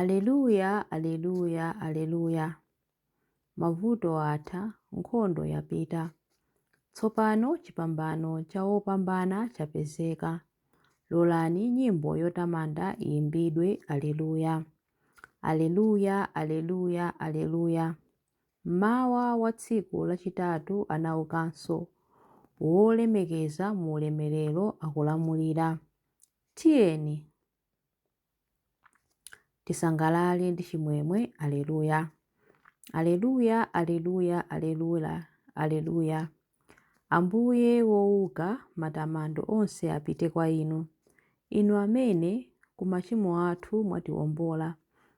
Aleluya, Aleluya, Aleluya! Mavuto atha, nkhondo yapita. Tsopano chipambano cha wopambana chapezeka. Lolani nyimbo yotamanda iyimbidwe, Aleluya! Aleluya, Aleluya, Aleluya! Mmawa wa tsiku lachitatu anaukanso, wolemekeza mu ulemerero akulamulira. Tiyeni! tisangalale ndi chimwemwe aleluya aleluya aleluya aleluya aleluya ambuye wouka matamando onse apite kwa inu inu amene ku machimo athu mwatiwombola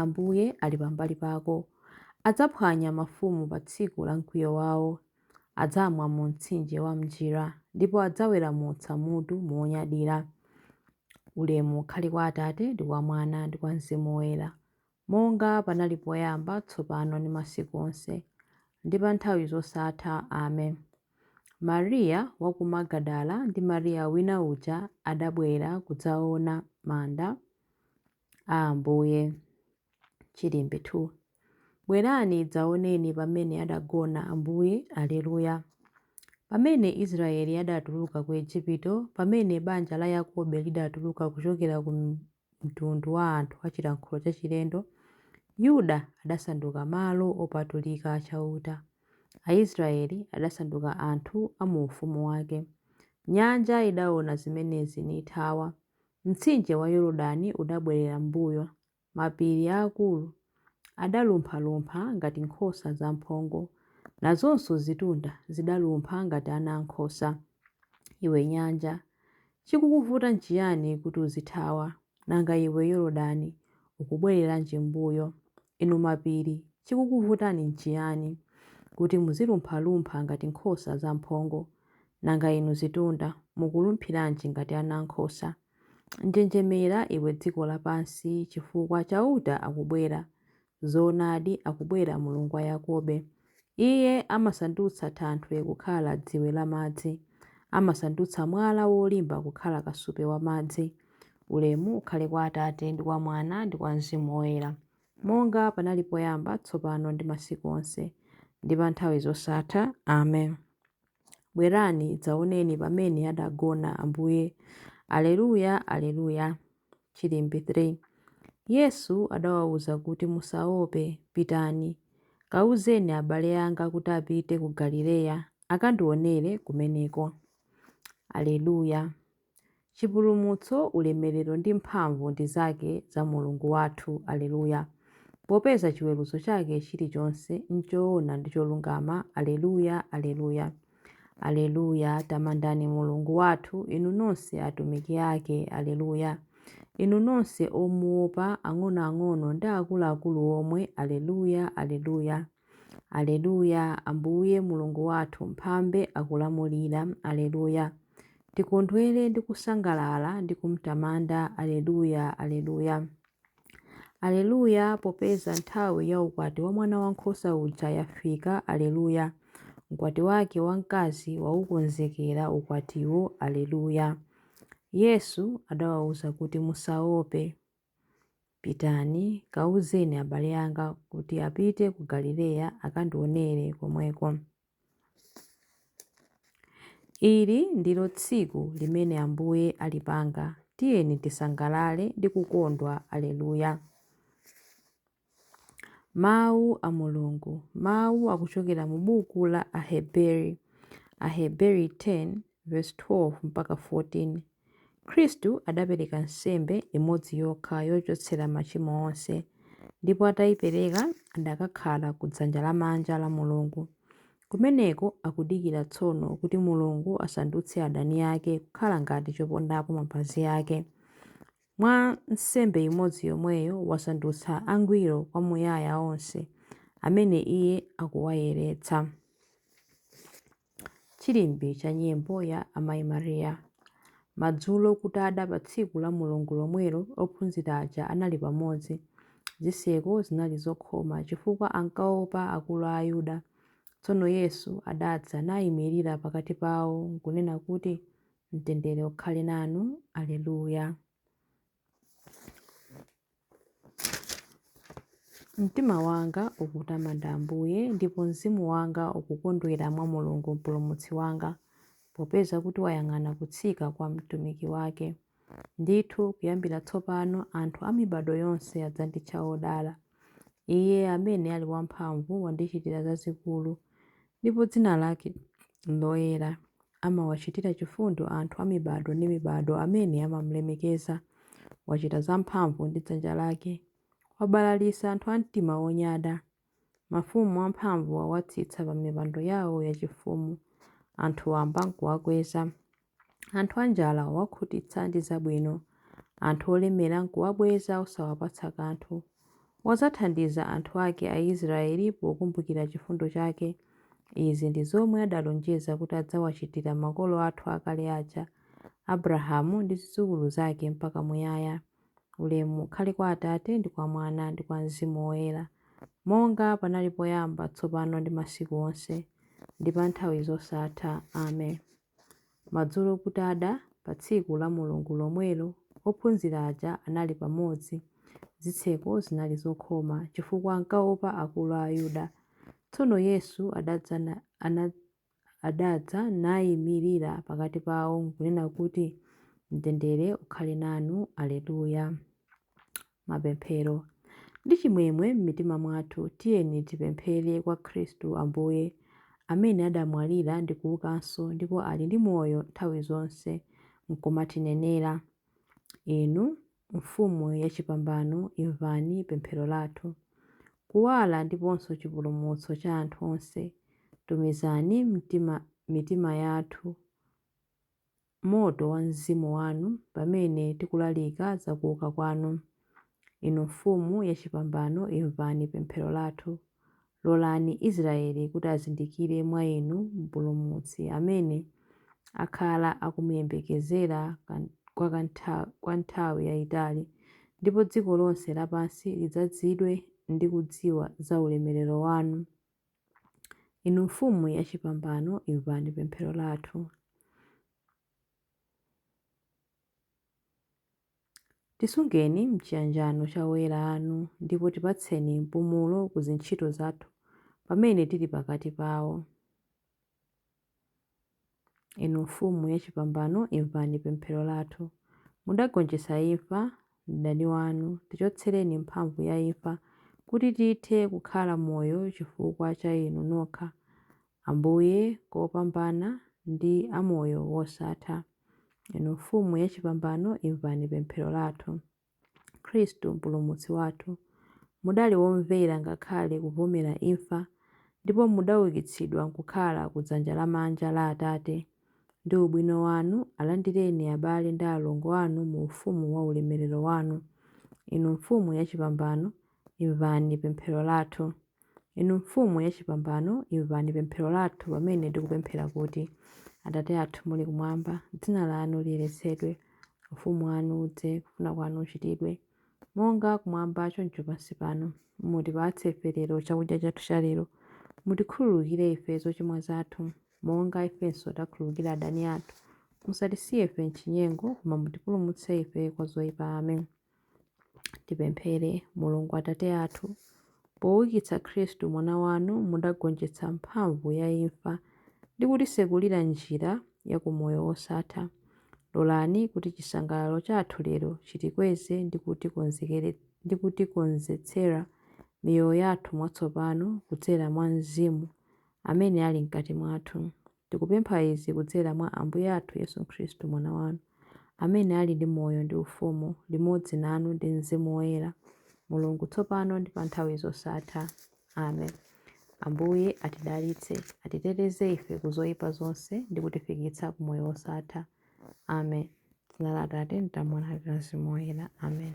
Ambuye ali pambali pako. Adzaphwanya mafumu pa tsiku la mkwiyo wawo. Adzamwa mu mtsinje wa m'njira ndipo adzaweramutsa mutu monyadira. Ulemu ukhale kwa Atate ndi kwa Mwana ndi kwa Mzimu Woyera, monga panali poyamba, tsopano ndi masiku onse, ndi pa nthawi zosatha. Amen. Mariya wa ku Magadala ndi Mariya wina uja adabwera kudzaona manda. a Ambuye. Chilimbi 2 Bwerani, dzaoneni pamene adagona Ambuye, Aleluya. Pamene Israeli adatuluka ku Ejipito, pamene banja la Yakobe lidatuluka kuchokera ku mtundu wa anthu a chilankhulo chachilendo, Yuda adasanduka malo opatulika a Chauta. Aisraeli adasanduka anthu a mu ufumu wake. Nyanja idaona zimenezi nithawa, Mtsinje wa Yorodani udabwerera m'mbuyo, mapiri aakulu adalumphalumpha ngati nkhosa zamphongo, nazonso zitunda zidalumpha ngati ana ankhosa. Iwe nyanja, chikukuvuta nchiyani kuti uzithawa? Nanga iwe Yorodani, ukubwereranji m'mbuyo? Inu mapiri, chikukuvutani nchiyani, kuti muzilumphalumpha ngati nkhosa zamphongo? Nanga inu zitunda, mukulumphiranji ngati ana ankhosa? Njenjemera, iwe dziko lapansi, chifukwa Chauta akubwera. Zoonadi, akubwera Mulungu wa Yakobe. Iye amasandutsa thanthwe kukhala dziwe la madzi. Amasandutsa mwala wolimba kukhala kasupe wa madzi. Ulemu ukhale kwa Atate, ndi kwa Mwana, ndi kwa Mzimu Woyera. monga panali poyamba, tsopano ndi masiku onse, ndi pa nthawi zosatha. Amen. Bwerani, dzaoneni pamene adagona Ambuye. Aleluya, Aleluya. Chilimbi 3 Yesu adawauza kuti, Musaope, pitani, kauzeni abale anga kuti apite ku Galileya, akandionere kumeneko. Aleluya. Chipulumutso, ulemerero ndi mphamvu ndi zake za Mulungu wathu. Alleluia. Popeza chiweruzo chake chilichonse n'choona ndi cholungama. Alleluia, Alleluia. Alleluia, Tamandani Mulungu wathu, inu nonse atumiki ake. Alleluia. Inu nonse omuopa, ang'onoang'ono ndi akuluakulu omwe. Alleluia, Alleluia. Aleluya! Ambuye Mulungu wathu mphambe akulamulira. Aleluya! Tikondwere ndi kusangalala ndi kumtamanda. Aleluya! Aleluya! Aleluya! Popeza nthawi ya ukwati wa mwana wankhosa uja yafika. Aleluya! Mkwati wake wamkazi waukonzekera ukwatiwo. Aleluya! Yesu adawauza kuti, Musaope. Pitani, kawuzeni abale anga kuti apite ku Galileya akandionere komweko. Ili ndilo tsiku limene Ambuye alipanga, tiyeni tisangalale ndi kukondwa. Aleluya! Mawu a Mulungu, mawu akuchokera mu buku la Aheberi, Aheberi 10 verse 12 mpaka 14. Khristu adapereka nsembe imodzi yokha yochotsera machimo onse, ndipo atayipereka adakakhala ku dzanja lamanja la Mulungu. Kumeneko akudikira tsono kuti Mulungu asandutse adani ake kukhala ngati chopondapo mapazi ake. Mwa nsembe imodzi yomweyo wasandutsa angwiro kwamuyaya onse amene iye akuwayeretsa. Chilimbi cha nyimbo ya Amayi Maria. Madzulo kutada pa tsiku la Mulungu lomwelo ophunzira aja anali pamodzi. Zitseko zinali zokhoma chifukwa ankaopa akulu a Ayuda. Tsono Yesu adadza naimirira pakati pawo nkunena kuti, Mtendere ukhale nanu. Aleluya. Mtima wanga ukutamanda Ambuye, ndipo mzimu wanga ukukondwera mwa Mulungu Mpulumutsi wanga, popeza kuti wayang'ana kutsika kwa mtumiki wake. Ndithu, kuyambira tsopano anthu a mibado yonse adzanditcha odala. Iye amene ali wamphamvu wandichitira zazikulu, Ndipo dzina lake loyera. Amawachitira chifundo anthu a mibado ndi mibado amene amam'lemekeza. Wachita zamphamvu ndi dzanja lake. Wabalalitsa anthu a mtima wonyada. Mafumu amphamvu wawatsitsa pamipando yawo yachifumu. Anthu wamba n'kuwakweza. Anthu anjala wawakhutitsa ndi zabwino, anthu olemera nkuwabweza osawapatsa kanthu. Wadzathandiza anthu ake Aisraele pokumbukira chifundo chake. Izi ndi zomwe adalonjeza kuti adzawachitira makolo athu akale aja, Abrahamu ndi zidzukulu zake mpaka muyaya. Ulemu ukhale kwa Atate, ndi kwa Mwana, ndi kwa Mzimu Woyera, monga panali poyamba, tsopano ndi masiku onse, ndi pa nthawi zosatha. Amen. Madzulo kutada pa tsiku la Mulungu lomwelo, ophunzira aja anali pamodzi. Zitseko zinali zokhoma, chifukwa ankaopa akulu a Ayuda. Tsono Yesu adadza na- ana- adadza naimirira pakati pawo nkunena kuti, Mtendere ukhale nanu. Alleluia. mapemphero. Ndi chimwemwe m'mitima mwathu tiyeni tipemphere kwa Khristu Ambuye, amene adamwalira ndi kuukanso, ndipo ali ndi moyo nthawi zonse, nkumatinenera. Inu, Mfumu yachipambano, imvani pemphero lathu. Kuwala ndiponso chipulumutso cha anthu onse, tumizani m'mtima, mitima yathu. moto wa Mzimu Wanu pamene tikulalika za kuuka Kwanu. Inu Mfumu yachipambano, imvani pemphero lathu. Lolani Israeli kuti azindikire mwa Inu Mpulumutsi amene akhala akumuyembekezera kwa ka nthawi, kwa nthawi yaitali, ndipo dziko lonse lapansi lidzazidwe ndi kudziwa za ulemerero Wanu. Inu Mfumu yachipambano, imvani pemphero lathu. Tisungeni m'chiyanjano cha oyera anu ndipo tipatseni mpumulo ku zintchito zathu pamene tili pakati pawo. Inu Mfumu yachipambano, imvani pemphero lathu. Mudagonjetsa imfa, mdani wanu, tichotsereni mphamvu ya imfa, kuti tithe kukhala moyo chifukwa cha Inu nokha, Ambuye kopambana ndi a moyo wosatha. Inu Mfumu yachipambano, imvani pemphero lathu. Khristu Mpulumutsi wathu, mudali womvera ngakhale kubvomera imfa, ndipo mudaukitsidwa nkukhala ku dzanja lamanja la Atate, ndi ubwino wanu alandireni abale ndi alongo anu mu ufumu wa ulemerero wanu. Inu Mfumu yachipambano, imvani pemphero lathu. Inu Mfumu yachipambano, imvani pemphero lathu pamene tikupemphera kuti, Atate athu muli kumwamba, dzina lanu liyeretsedwe. Ufumu wanu udze, kufuna kwanu kuchitidwe, monga kumwamba choncho pansi pano. Mutipatse ife lero chakudya chathu cha lero. Mutikhululukire ife zochimwa zathu, monga ifenso takhululukira adani athu. Musatisiye ife m'chinyengo, koma mutipulumutse ife kwa zoipa. Amen. Tipemphere. Mulungu Atate athu, poukitsa Khristu Mwana wanu mudagonjetsa mphamvu ya imfa ndi kutitsekulira njira ya ku moyo wosatha. Lolani kuti chisangalalo chathu lero chitikweze ndi kutikonzetsera miyoyo yathu mwatsopano kudzera mwa Mzimu amene ali mkati mwathu. Tikupempha izi kudzera mwa Ambuye athu Yesu Khristu, Mwana wanu, amene ali ndi moyo ndi ufumu limodzi nanu ndi mzimu woyera, Mulungu, tsopano ndi pa nthawi zosatha. Amen. Ambuye atidalitse, atiteteze ife ku zoyipa zonse ndi kutifikitsa ku moyo wosatha. Amen. Dzina la Atate, ndi la Mwana, ndi la Mzimu Woyera. Amen.